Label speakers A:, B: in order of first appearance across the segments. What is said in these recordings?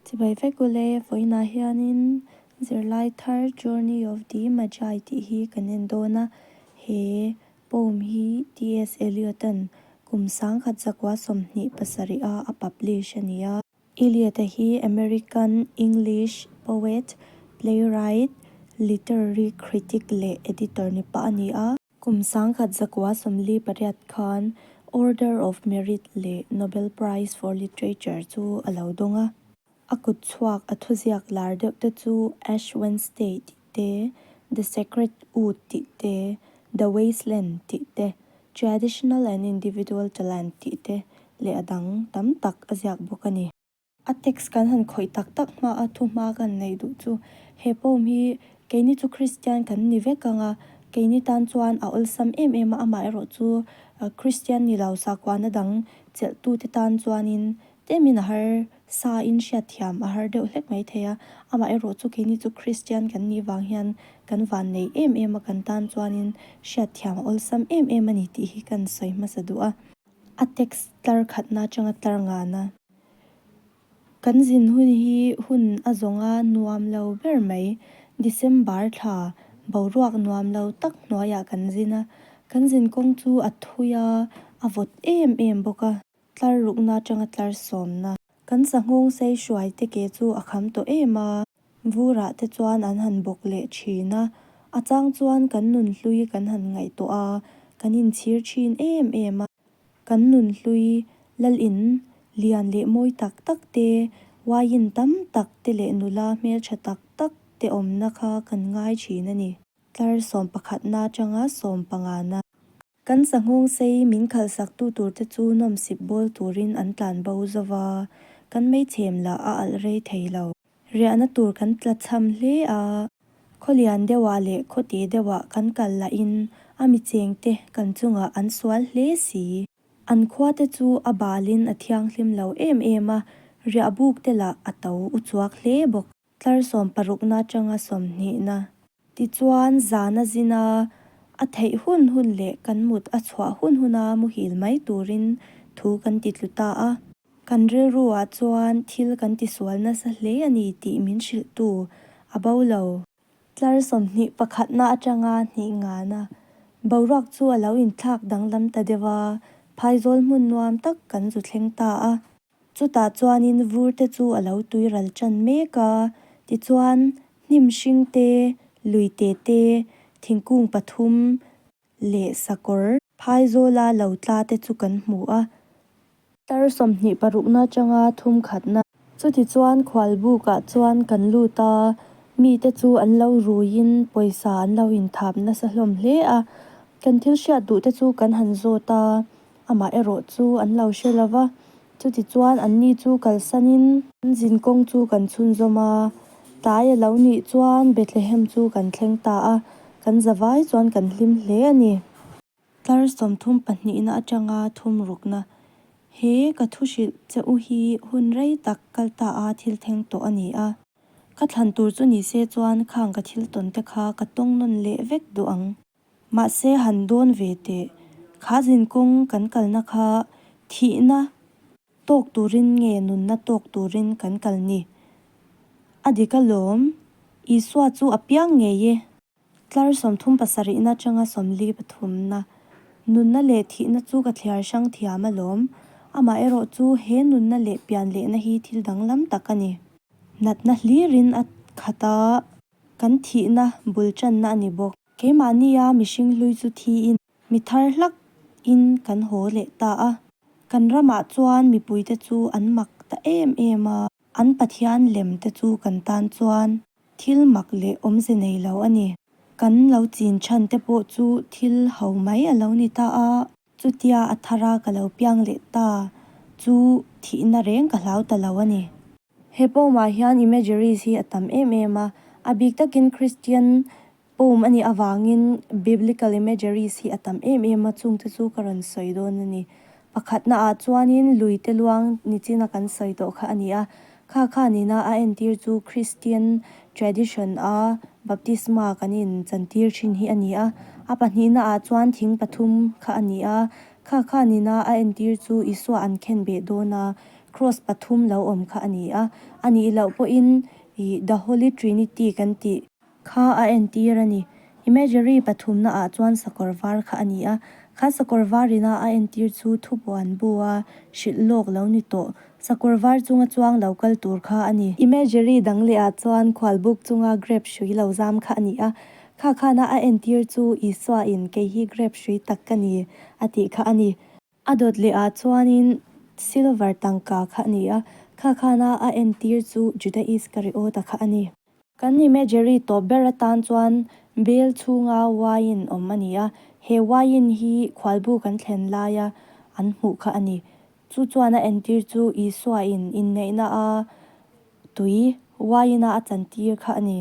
A: Chibai vek u le, vawiinah hianin zirlai thar Journey of the Magi tih hi kan en dawn a, he poem hi TS Eliot-an kum sangkhat zakua sawmhnih pasarih-a a publish a ni a. Eliot-a hi American English poet, playwright, literary critic leh editor-ni pah a ni a. Kum sangkhat zakua sawmli pariat khan Order of Merit leh Nobel Prize for Literature chu a lo dawng a. A kut chhuak a thuziak lar deuh te chu Ash Wednesday tih te, The Sacred Wood tih te, The Waste Land tih te, Traditional and Individual Talent tih te leh a dang tam tak a ziak bawk a ni. A text kan han khawih tak tak hma a thu hma kan neih duh chu he poem hi keini chu Kristian kan ni vek anga keini tan chuan a awlsam em em a amah erawh chu Kristian ni lo sakuahna dang chelhtu te tan chuanin temin a har sa in hriat thiam a har deuh hlek mai thei a amah erawh chu keini chu Kristian kan nih vang hian kan van nei em em a kan tan chuanin hriat thiam a awlsam em em a ni tih hi kan sawi hmasa duh a a text tlar khatna atanga tlar ngan a. Kan zin hun hi hun a zawng a nuam lo ber mai. December thla boruak nuam lo tak hnuaiah kan zin a. Kan zin kawng chu a thui a, a vawt em em bawk a. Tlar rukna atanga tlar sawmna. Kan sanghawng sei hruai te ke chu a kham tawh em a. Vura te chuan an han bawk leh thin a. A chang chuan kan nun hlui kan han ngaih tawh a, kan inchhir thin em em a. Kan nun hlui lal in lian leh mawi tak tak te, waiin tam tak te leh nula hmeltha tak tak te awmna kha kan ngai thin a ni. Tlar sawm pakhatna atanga sawm pangana. Kan sanghawng sei min khalhsaktu tur te chu nawm sip bawl turin an tlan bo zova kan meichhem lah a alh rei thei lo. Riahna tur kan tla chham hle a. Khawlian deuhah leh khawte deuhah kan kal lahin a mi chengte kan chungah an sual hle si. An khuate chu a balin a thianghlim lo em em a, riahbukte lah a to u chuak hle bawk. Tlarsawm parukna atanga sawmhnihna. Tichuan zan a zin a, a theih hun hun leh kan mut a chhuah hun hun a muhil mai turin thu kan titlu ta a. Kan rilru ah chuan thil kan tisual nasa hle a ni tih min hrilh tu a bo lo. Tlar sawmhnih pakhatna atanga hnih ngan a boruak chu a lo inthlak danglam ta deuh a, phaizawl hmun nuam tak kan zu thleng ta a. Chutah chuanin vurte chu a lo tui ral ṭan mek a, tichuan hnim hring te, lui te te, thingkung pathum leh sakawr. Phaizawla lo tla te chu kan hmu a. Tar sawmhnih parukna aṭanga thum khatna. Chutichuan khual bukah chuan kan lut a, mite chu an lo ruiin pawisa an lo inthap nasa hlawm hle a. Kan thil hriat duhte chu kan han zawt a, amah erawh chu an lo hre lo va, chuti chuan an ni chu kalsanin an zin kawng chu kan chhunzawm a, tlai a lo nih chuan Bethlehem chu kan thleng ta a, kan za vai chuan kan hlim hle a ni. Tlar sawmthum pahnihna atanga thum rukna he ka thu hrilh che u hi hun rei tak kal ta a thil theng tawh a ni a, ka thlan tur chu ni se chuan khang ka thil tawnte kha ka tawng nawn leh vek duh ang. Mahse han dawn ve teh. Khazin kawng kan kalna kha thihna tawk turin nge nunna tawk turin kan kal ni? A dik alawm. Isua chu a piang ngei e. Tlar sawmthum pasarihna atanga sawmli pathumna. Nunna leh thihna chu ka thliar hrang thiam alawm. Amaherawh chu he nunna leh pian lehna hi thil danglam tak a ni. Natna hlirin a khat a. Kan thihna bul channa a ni bawk. Keimahnia mihring hlui chu thiin mi thar hlak in kan haw leh ta a. Kan ramah chuan mipui te chu an mak ta em em a. An Pathian lem te chu kan tan chuan thil mak leh awmze nei lo a ni. Kan lo chin chhan te pawh chu thil hau mai a lo ni ta a. Chutia a thara ka lo piang leh ta chu thihna reng ka hlau ta lo a ni. He poem ah hian imageries hi a tam em em a, a bik takin Christian poem a nih avangin biblical imageries hi a tam em em a, chungte chu ka rawn sawi dawn a ni. Pakhatna ah chuanin lui te luang nichin a kan sawi tawh kha a ni a, Kha kha nina a entir chu Kristian tradition a baptisma kan in chantir thin hi a ni a. A pahnihna ah chuan thing pathum kha a ni a. Kha kha nina a entir chu Isua an khen beh dawn a Kraws pathum lo awm kha a ni a. A nih loh pawhin ih The Holy Trinity kan tih. Kha a entir a ni. Imagery pathumna ah chuan sakawr var kha a ni a. Kha sakawr var in a a entir chu thupuan bu a hrilh lawk lo ni tawh. Sakawr var chunga chuang lo kal tur kha a ni. Imagery dang leh ah chuan khual buk chunga grape hrui lo zam kha a ni a. Kha khana a entir chu Isua in kei hi grape hrui tak ka ni a tih kha a ni. A dawt lehah chuanin silver tangka kha a ni a, Khakhana a entir chu Judah Iskariota kha a ni. Kan imagery tawp ber atan chuan Bel chhunga wine awm a ni a, he wine hi khualbu kan thlen laia an hmuh kha a ni. Chu chuan a entir chu Isuain inneihna a tui wine-a a chantir kha a ni.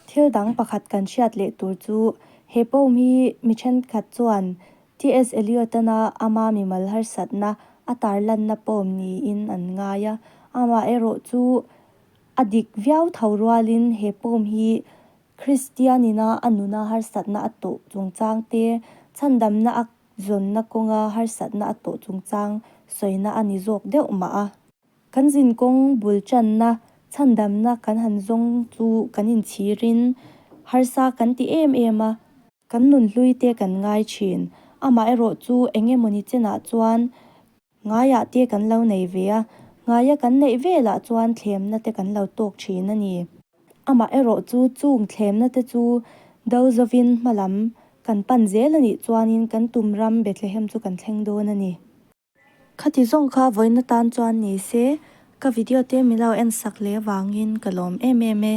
A: Thil dang pakhat kan hriat leh tur chu, he poem hi mi ṭhenkhat chuan TS Eliot-ana ama mimal harsatna a tarlanna poem niin an ngai a. Amah erawh chu a dik viau tho rualin he poem hi Kristianina a nuna harsatna a tawh chungchang te, chhandamna a zawnna kawnga harsatna a tawh chungchang sawina a ni zawk deuh mah a. Kan zin kawng bul channa chhandamna kan han zawng chu kan inchhirin harsa kan ti em em a. Kan nun hlui te kan ngai thin. Amaherawh chu eng emaw ni chenah chuan ngaiah te kan lo nei ve a. Ngaia kan neih velah chuan thlemna te kan lo tawk thin a ni. Amaherawh chu chung thlemna te chu Dozovin hma lam kan pan zel a nih chuanin kan tum ram Bethlehem chu kan thleng dawn a ni. Khati zawng kha vawina tan chuan ni se, ka video te milo en sak leh vangin ka lawm em em e.